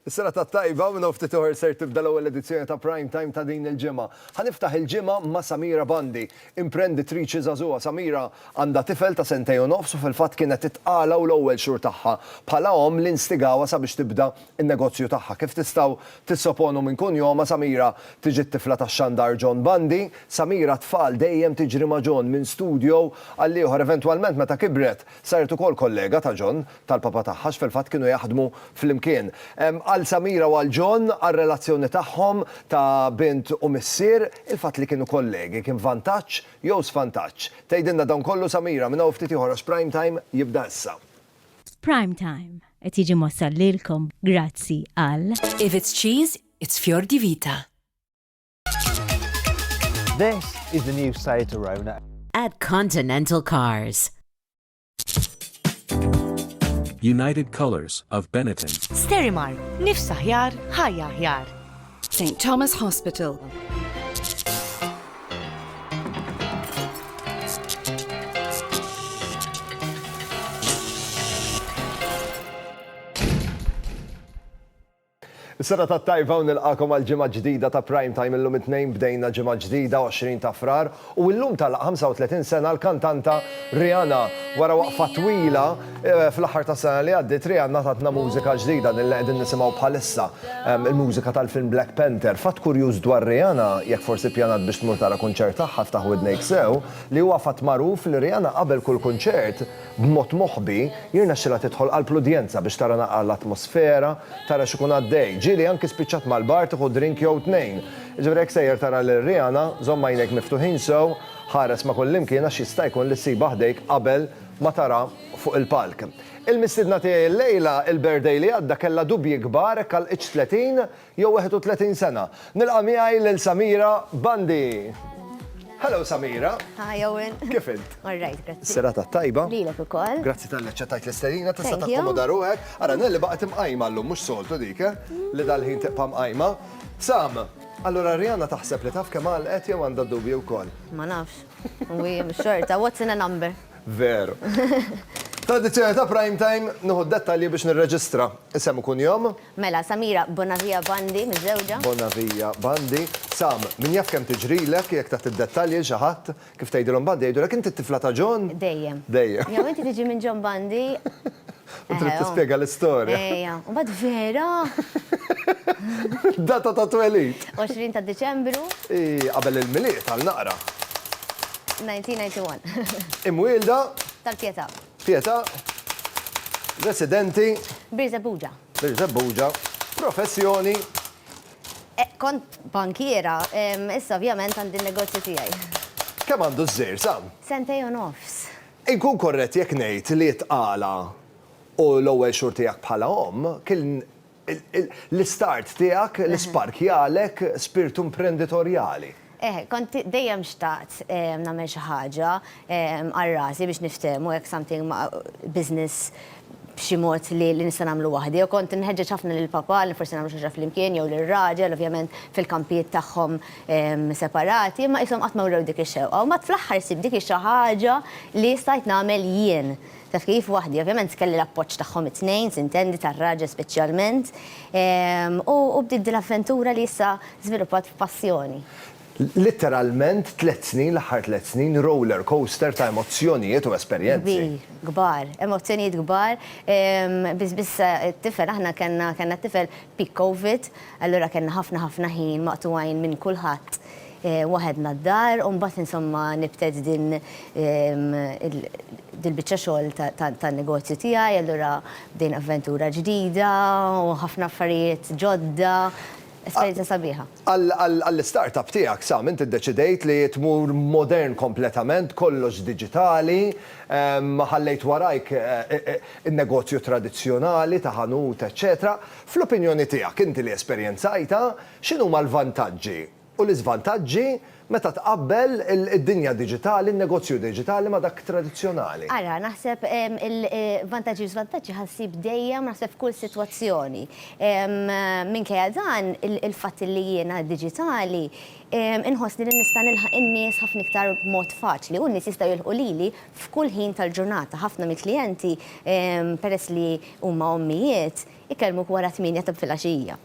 Is-serata t-tajba minn hawn ftit oħor ser tibda l-ewwel edizzjoni ta' Prime Time ta' din il-ġimgħa. Ħa niftaħ il-ġimgħa ma' Samira Bandi, imprenditriċi żagħżugħa. Samira għandha tifel ta' sentejn u nofs u fil-fatt kienet it-tqala u l-ewwel xhur tagħha bħala omm li nstigawha sabiex tibda n-negozju tagħha. Kif tistgħu tissoponu minn kunjomha Samira tiġi t-tifla tax-xandar John Bandi. Samira t-tfal dejjem tiġri ma' John minn studio għall-ieħor eventwalment meta kibret saret ukoll kollega ta' John. tal-papa tagħha għax fil-fatt kienu jaħdmu flimkien. Għal Samira u għal John, għar-relazzjoni tagħhom ta' bint u missier, il-fatt li kienu kollegi kien vantaġġ jew svantaġġ? Tgħidilna dan kollu Samira minn hawn ftit ieħor għax Prime Time jibda issa. Prime Time qed jiġi mwassal lilkom grazzi għal. If it's cheese, it's fior di vita. This is the new Seat Arona. At Continental Cars. United Colors of Benetton. Sterimar, nifs aħjar, ħajja aħjar. St. Thomas Hospital. Is-serata tat-tajba u nilqagħkom għal ġimgħa ġdida ta' Prime Time illum it-Tnejn bdejna ġimgħa ġdida 20 ta' Frar u illum tagħlaq 35 sena l-kantanta Rihanna. Wara waqfa twila fl-aħħar tas-sena li għaddiet Rihanna tatna mużika ġdida din li qegħdin nisimgħu bħalissa il-mużika tal-film Black Panther. Fatt kurjuż dwar Rihanna jekk forsi ppjanat biex tmur tara kunċert tagħha ftaħ widnejk sew li huwa fatt magħruf li Rihanna qabel kull kunċert B'mod moħbi, jirnexxilha tidħol qalb l-udjenza biex tara naqra l-atmosfera, tara x'ikun għaddej. Ġieli anki spiċċat mal-bar tieħu drink jew tnejn. Jiġifieri jekk sejjer tara lil Rihanna, żomm għajnejk miftuħin sew, ħares ma' kullimkien għax jista' jkun li ssibha ħdejk qabel ma tarha fuq il-palk. Il-mistiedna tiegħi llejla, il-birthday li għadda kellha dubji kbar hekk għalqitx 30 Jew 31 sena. Nilqa' miegħi lil Samira Bandi. Hello Samira. Hi Owen. Kif int? All right, grazzi. Serata tajba. Lilek ukoll. Grazzi talli aċċettajt l-istedina, tista' takkomoda ruħek. Ara Nelli baqgħet imqajma llum mhux soltu dik, eh? Li dal-ħin tibqa' mqajma. Sam, allura Rihanna taħseb li taf kemm għalqet jew għandha d-dubji wkoll? Ma nafx. U hi mhux xorta, what's in a number? Veru. Fl-edizzjoni ta' Prime Time nieħu d-dettalji biex nirreġistra isem u kunjom, Mela, Samira Bonavia Bandi, miżżewġa. Bonavia Bandi, Sam, min jaf kemm tiġrilek, jekk tagħti d-dettalji 'l xi ħadd, kif tgħidilhom Bandi, jgħidulek inti t-tifla ta' John? Dejjem. Dejjem. Jew inti tiġi minn John Bandi. U trid tispjega l-istorja. Ejja. U mbagħad vera! Data ta' twelid. 20 ta' Diċembru. Hi qabel il-Milied għal naqra. 1991. Imwielda. Tal-Pietà. Pietà, residenti. Birżebbuġa. Birżebbuġa, professjoni. Kont bankiera, issa ovvjament għandi n-negozju tiegħi. Kemm għandu ż-żejr, Sam? Sentejn u nofs. Inkun korrett jekk ngħid li t-tqala u l-ewwel xhur tiegħek bħala omm kien L-istart tiegħek, l-isparkjalek spirtu imprenditorjali. Eħe, kont dejjem xtaqt nagħmel xi ħaġa għal rasi biex niftehmu hekk something business b'xi mod li nista' nagħmlu waħdi. U kont inħeġġeġ ħafna lil papà li forsi nagħmlu xi ħaġa flimkien jew lir-raġel, ovvjament fil-kampijiet tagħhom separati, imma qishom qatt ma wrew dik ix-xewqa. U mbagħad fl-aħħar issib dik hi xi ħaġa li stajt nagħmel jien. Taf kif? Waħdi, ovvjament kelli l-appoġġ tagħhom it-tnejn, tintendi, tar-raġel speċjalment, u bdiet din l-avventura li issa żviluppat f'passjoni. Litteralment tliet snin, l-aħħar tliet snin, roller coaster ta' emozzjonijiet u esperjenzi. Kbir, kbar. Emozzjonijiet kbar. Biss, biss it-tifel, aħna kellna t-tifel peak Covid, allura kellna ħafna, ħafna ħin maqtugħin minn kulħadd. waħedna d-dar u mbagħad insomma nibted din dil-biċċa xogħol tan-negozju tiegħi, allura bdejna avventura ġdida u ħafna affarijiet ġodda, esperjenza sabiħa. Għall-istart-up tiegħek, Sam, inti ddeċidejt li tmur modern kompletament, kollox diġitali, ma ħallejt warajk in-negozju tradizzjonali ta' ħanut eċċetera. Fl-opinjoni tiegħek, inti li esperjenzajtha, x'inhuma l-vantaġġi u l-iżvantaġġi meta tqabbel id-dinja diġitali, n-negozju diġitali ma' dak tradizzjonali. Ara, naħseb il-vantaġġi u l-iżvantaġġi ħa ssib dejjem naħseb f'kull sitwazzjoni. Minkejja dan, il-fatt li jiena diġitali, inħossni li nista' nilħaq in-nies ħafna iktar b'mod faċli u n-nies jistgħu jilħqu lili f'kull ħin tal-ġurnata. Ħafna mill-klijenti, peress li huma ommijiet, ikellmuk wara tmienja ta' filgħaxija.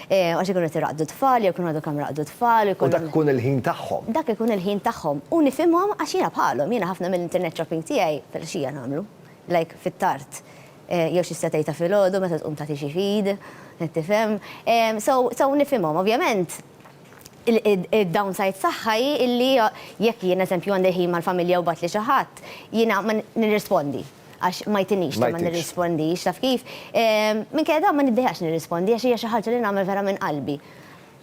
Għax ikunu qed iraqdu t-tfal, jew ikunu għadu kemm raqdu t-tfal, U dak ikun il-ħin tagħhom. Dak ikun il-ħin tagħhom. U nifhimhom għax jiena bħalhom, jiena ħafna mill-internet shopping tiegħi filgħaxija nagħmlu. Like fit-tard. Jew xi setgħa ta' filgħodu meta tqum tagħti xi feed, qed tifhem. So, so nifhimhom. Ovvjament, id-downside tagħha hi illi jekk jien eżempju għandi ħin mal-familja u bagħatli xi ħadd, jiena ma nirrispondi. għax ma jtinix li ma nirrispondix, taf kif? Minkejja dan ma niddejjax nirrispondi għax hija xi ħaġa li nagħmel vera minn qalbi.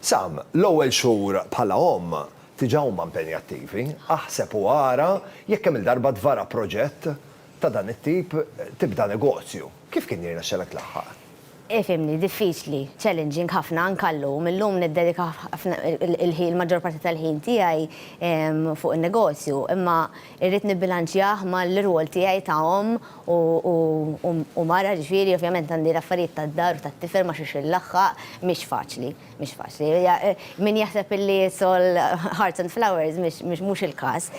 Sam, L-ewwel xhur bħala omm diġà huma impenjattivi. Aħseb u ara jekk kemm-il darba tvara proġett ta' dan it-tip, tibda negozju. Kif kien jirnexxelek tlaħħaq? Ifhimni, diffiċli, challenging ħafna anke llum. Illum niddedika ħafna il-ħin, il-maġġor parti tal-ħin tiegħi fuq in-negozju, imma irrid nibbilanċjah mal-irwol tiegħi ta' omm u mara, jiġifieri ovvjament għandi l-affarijiet tad-dar u tat-tifel ma' xiex inlaħħaq, mhix faċli. Mhix faċli. Min jaħseb illi it's all hearts and flowers mhux il-każ.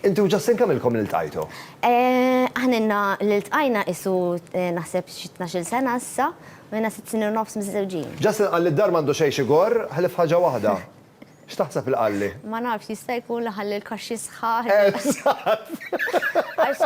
Inti u Justin kemm ilkom iltajtu? Aħna ilna li ltqajna qisu naħseb xi tnax-il sena issa u ilna sitt snin u nofs miżżewġin. Justin qal li d-dar m'għandu xejn x'igorr ħlief ħaġa waħda. X'taħseb li qalli? Ma nafx, jista' jkun li ħalli l-kaxxi sħaħ. Eżatt! Għax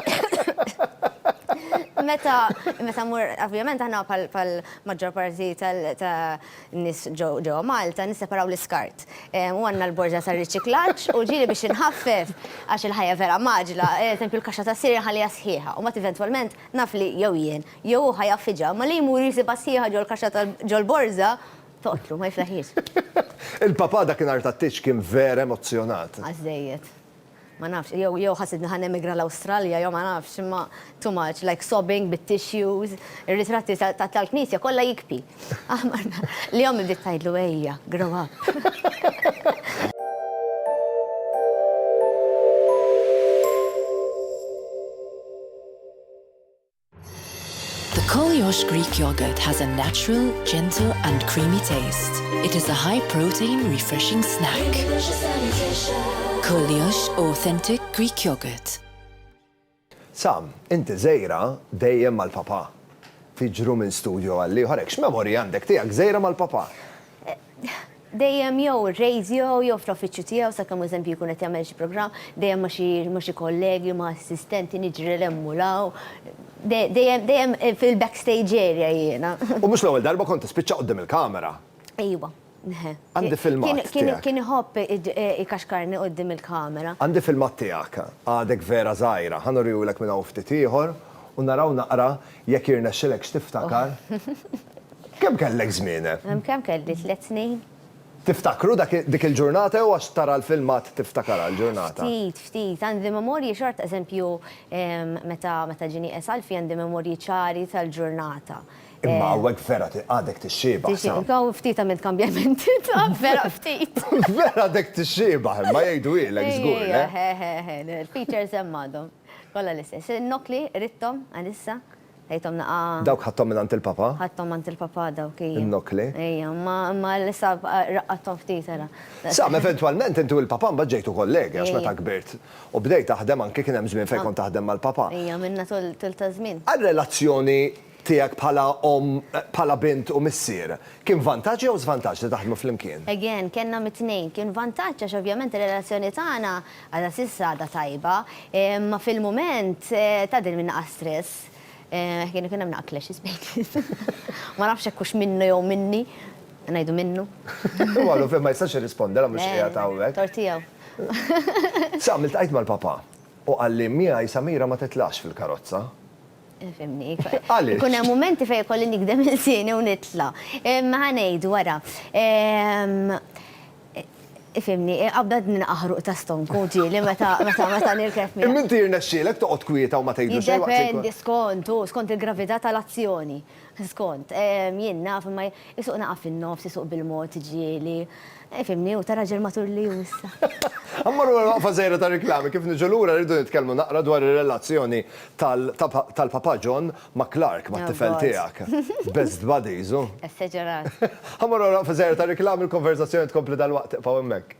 meta meta mmur, ovvjament aħna bħall-maġġor parti ta' n-nies ġewwa Malta nisseparaw l-iskart. U għandna l-borża tar-riċiklaġġ u ġieli biex inħaffef għax il-ħajja vera mgħaġġla, eżempju l-kaxxa tas-sirir inħalliha sħiħa u mbagħad eventwalment naf li jew jien jew hu ħa jaffiġha, imma li jmur jsibha sħiħa ġol-kaxxa ta' ġol-borża toqtlu, ma jiflaħhiex. Il-Papa dakinhar tat-tieġ kien vera emozzjonat. Għażżejjed. Ma nafx, jew jew ħassitni ħa nemigra l-Awstralja jew ma nafx, imma too much, like sobbing bit-tissues, ir-ritratti ta' tal-knisja kollha jikpi. Aħmar nar. Li ommi bdiet tgħidlu ejja, grow up. The Koliosh Greek yogurt has a natural, gentle and creamy taste. It is a high protein, refreshing snack. Koliosh authentic Greek yogurt. Sam, inti żejra dejjem mal-papà. Tiġru minn studjo għall-ieħor hekk x'memorji għandek tiegħek żejra mal-papà? dejjem jew ir-radio jew fl-uffiċċju tiegħu sakemm hu eżempju jkun qed jagħmel xi programm, dejjem ma' xi ma' xi kollegi, ma' assistenti niġri 'l hemm u 'l hawn. De dejjem dejjem fil-backstage area jiena. U mhux l-ewwel darba kont tispiċċa quddiem il-kamera. Ejwa. Għandi filmat tiegħek. Kien kien kien iħobb ikaxkarni quddiem il-kamera. Għandi filmat tiegħek, għadek vera żgħira. Ħa nurihulek minn hawn ftit ieħor u naraw naqra Jekk jirnexxilekx tiftakar, kemm kellek żmien? Kemm kelli, tliet snin? Tiftakru dik il-ġurnata jew għax tara l-filmat tiftakarha l-ġurnata? Ftit, ftit. Għandi memorji xorta, eżempju, meta ġieni qiegħed Alfie għandi memorji ċari tal-ġurnata. Imma hawnhekk vera għadek tixxiebah, sa. Hawn ftit għamilt kambjamenti, taf, vera ftit. Vera għadek tixxiebah, imma jgħidulek żgur, le? Eħe, eħe, eħe, il-features hemm għadhom. Kollha l-istess. Nokli, ridthom, għalissa. Ħejthom naqa'. Dawk ħadthom mingħand il-Papa? Ħadthom għand il-Papa dawk, ejja. In-nokli. Ejja, imma issa raqqadthom ftit, ara. Sam, eventwalment inti u l-Papa mbagħad ġejtu kollegi għax meta kbirt u bdejt taħdem anki kien hemm żmien fejn kont taħdem mal-Papa. Ejja, għamilna tul ta' żmien. Għar-relazzjoni tiegħek bħala omm, bħala bint u missier, kien vantaġġ jew żvantaġġ li taħdmu flimkien? Again, kellna mit-tnejn. Kien vantaġġ għax ovvjament ir-relazzjoni tagħna għadha s'issa għadha tajba, imma fil-mument tgħaddi minn naqa' stress. Kien ikun hemm naqa' clashes bejnietna. Ma nafx hekk hux minnu jew minni. Ngħidu minnu. Huwa għadu fejn ma jistax jirrispondi, mhux qiegħed hawnhekk. Tort tiegħu. Sam, iltqajt mal-papà u qalli miegħi Samira ma titlax fil-karozza. Fimni. Għaliex? Ikun hemm mumenti fejn ikolli nikdem il-sieni u nitla. Ħa ngħid wara. Fimni, qabda minn aħruq ta' stonku ġieli meta meta nirkeb miegħek. Imma inti jirnexxielek toqgħod kwieta u ma tgħidlu xejn waqt il-. Jiddependi skont, hu skont il-gravità tal-azzjoni. Skont, jien naf imma isuq naqa' fin-nofs, isuq bil-mod, ġieli. Fhimni, hu ta' raġel matur li hu issa. Mmorru għal waqfa żgħira ta' riklami, kif niġu lura rridu nitkellmu naqra dwar ir-relazzjoni tal-Papa John ma' Clark, mat-tifel tiegħek. Best buddies, hu? Esaġerat. Mmorru għal waqfa żgħira ta' riklami, il-konverżazzjoni tkompli dalwaqt, ibqgħu hemmhekk.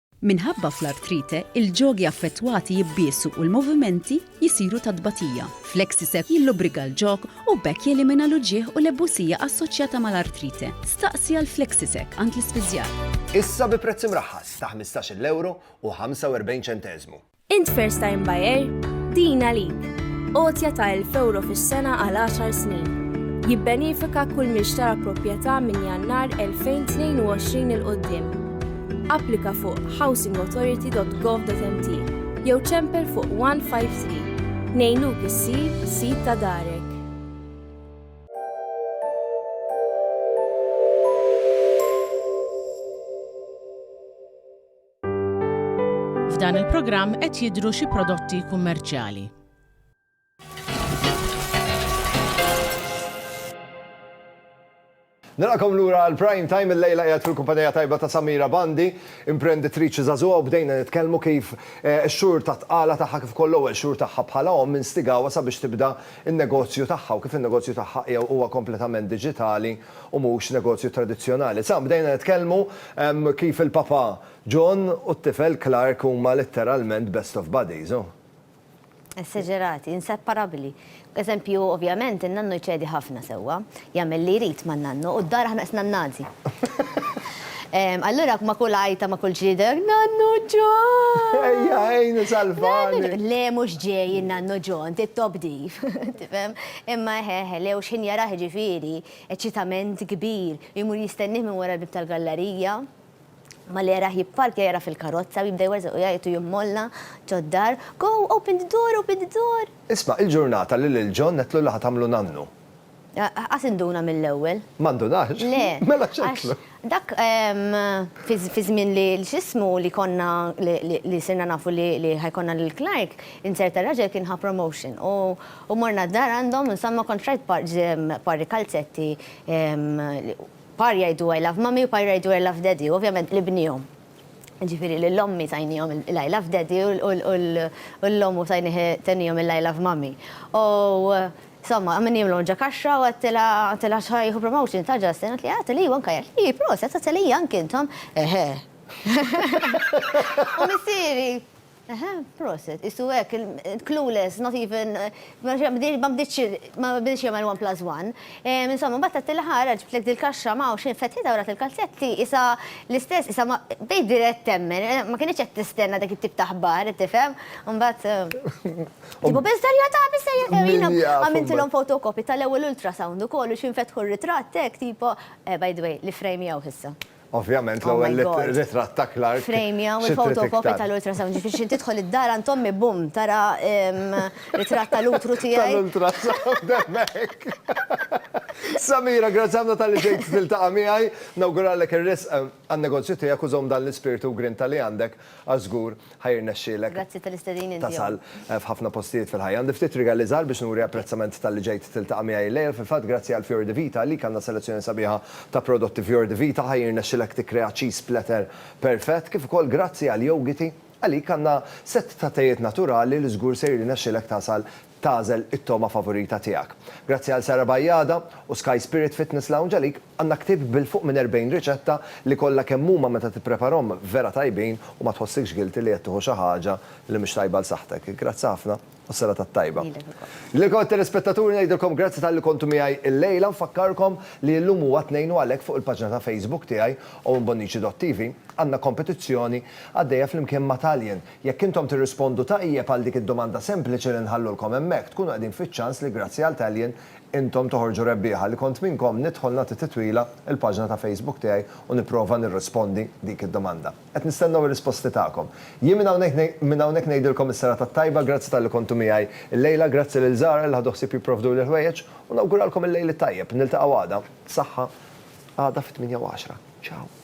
Minħabba fl-artrite, il-ġogi affettwati jibbiesu u l-movimenti jsiru ta' tbatija. Flexisec jillubrika l-ġog u b'hekk jelimina l-uġigħ u l-ebusija assoċjata mal-artrite. Staqsi għal Flexisec għand l-ispiżjar. Issa bi prezz imraħħas ta' ħmistax-il ewro u ħamsa u erbgħin ċenteżmu. Int first time buyer? Din għalik. Għotja ta' 1000 euro fis-sena għal 10 snin. Jibbenifika kull min xtara proprjetà minn Jannar 2022 il qoddim Applika fuq housingauthority.gov.mt jew ċempel fuq 153 nejnuk issir sit ta' darek. F'dan il-programm qed jidhru xi prodotti kummerċjali. Nilqakom lura għal prime time il-lejla qiegħed fil-kumpanija tajba ta' Samira Bandi, imprenditriċi żagħżugħa u bdejna nitkellmu kif eh, x-xhur ta' tqala tagħha kif ukoll l-ewwel xhur tagħha bħala omm instigawha sabiex tibda n-negozju tagħha u kif in-negozju tagħha huwa kompletament diġitali u mhux negozju tradizzjonali. Sa bdejna nitkellmu kif il-Papa John u t-tifel Clark huma letteralment best of buddies, u. Esseġerati, inseparabbli. B'eżempju, ovvjament, in-nannu jċedi ħafna sewwa, jagħmel li jrid man-nannu, u d-dar aħna qed nannagħżi. Allura ma' kull għajta, ma' kull ġrieda, Nannu John! Ejja, għinni, salvani! Le, mhux ġej in-nannu John, tittob div, tifhem? Imma eħ eħ, Leo x'ħin jarah jiġifieri? Eċċitament kbir, u jmur jistennih minn wara l-bieb tal-gallarija. Malli jarah jipparkja jara fil-karozza u jibda jwerżaq u jgħajjat u jimmolla ġo d-dar, Go, open the door, open the door! Isma', il-ġurnata li lil John għedtlu li ħa tagħmlu nannu. Ħa tinduna mill-ewwel. Ma ndunarx? Le. Mela x'għedtlu? Dak fi żmien li x'ismu li konna li sirna nafu li ħa jkollna lil Clark, insert tar-raġel kien ħa promotion u morna d-dar għandhom insomma kont rajt pari kalzetti pari jgħidu I love mummy u pari jgħidu I love daddy u ovvjament l-ibnihom jiġifieri lil ommi tajniehom l-I love daddy u l-omm u tajnieh tenniehom il-I love mummy u Somma, min jimlu minn ġa kaxxa u għedtilha, għedtilha x'ħa jieħu promotion ta' Justin, għedtli, għedtli iva anka jien, ii, proset, għedtli iva anki intom, eħe. U missieri, eħe, proset, qisu hekk, clueless, not even, ma bdietx, ma bdietx jagħmel one plus one. Insomma, mbagħad għedtilha ara ġibtlek dil-kaxxa ma hawnx, fetħitha u rat il-kalzetti, qisha l-istess, qisha ma, bdejt dirett temmen, ma kinitx qed tistenna dak it-tip ta' aħbar, qed tifhem, u mbagħad. Tibu biss darja ta' biss sejja ewina. Għamiltilhom fotokopi tal-ewwel ultrasound ukoll u xinfetħu r-ritratt hekk tipo eh, by the way, li frame jgħu ħissa. Ovvjament oh l-ewwel ritratt ta' Clark. Frame jgħu il-fotokopi tal-ultrasound, ġifieri xi tidħol id-dar għand ommi bum tara ritratt tal-utru tiegħi. Tal-ultrasound hemmhekk. Samira, grazzi ħafna tal-li ġejt tiltaqa' miegħi. Nawguralek ir-risq għan-negozju tiegħek u żomm dan l-ispirtu u grinta li għandek għax żgur Ħa jirnexxielek tasal f'ħafna postijiet fil-ħajja. Għandi ftit rigali żgħar biex nuri apprezzament talli ġejt tiltaqa' miegħi illejl. Fil-fatt, grazzi għal Fior di Vita għalik għandna selezzjoni sabiħa ta' prodotti Fior di Vita. Ħa jirnexxilek tikkrea cheese platter perfett. Kif ukoll grazzi għal Yogiti, għalik għandna sett ta' tejiet naturali li żgur se jirnexxilek tasal tagħżel it-togħma favorita tiegħek. Grazzi għal Sara Bajada u Sky Spirit Fitness Lounge għalik għandna ktieb bil fuq minn 40 riċetta li kollha kemm huma meta tippreparhom vera tajbin u ma tħossikx guilty li qed tieħu xi ħaġa li mhix tajba għal saħħtek. Grazzi ħafna u s-serata t-tajba. Lilek ukoll. Lilkom it-telespettaturi ngħidilkom grazzi talli kontu miegħi llejla. Nfakkarkom li illum huwa Tnejn u għalhekk fuq il-paġna ta' Facebook tiegħi, owenbonnici.tv, għandna kompetizzjoni għaddejja flimkien ma' Taljen Jekk intom tirrispondu ta' ijjeb għal dik id-domanda sempliċi li nħallulkom hemmhekk, tkunu qegħdin fiċ-ċans li grazzi għal Tallien, intom toħorġu rebbieħa. Li kont minnkom, nidħol nagħti titwila il-paġna ta' Facebook tiegħi u nipprova nirrispondi dik id-domanda. Qed nistennew ir-risposti tagħkom. Jien minn hawnhekk minn hawnhekk ngħidilkom is-serata t-tajba, grazzi talli kontu miegħi llejla, grazzi lil Zahra li ħadu ħsieb jipprovduli l-ħwejjeġ u nawguralkom il-lejl it-tajjeb. Niltaqgħu għada. Saħħa. Għada fit-tmienja u għaxra. Ciao.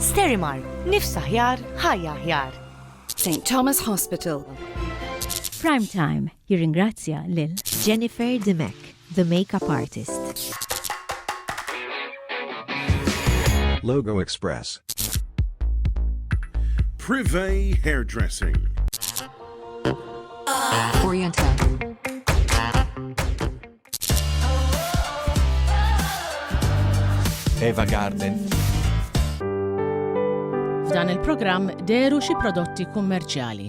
Sterimar, nifs aħjar, ħajja aħjar. St. Thomas Hospital. Prime Time jirringrazzja lil Jennifer Dimek, the makeup artist. Logo Express. Privé Hairdressing. Oriental. Eva Garden. F'dan il-programm deru xi prodotti kummerċjali.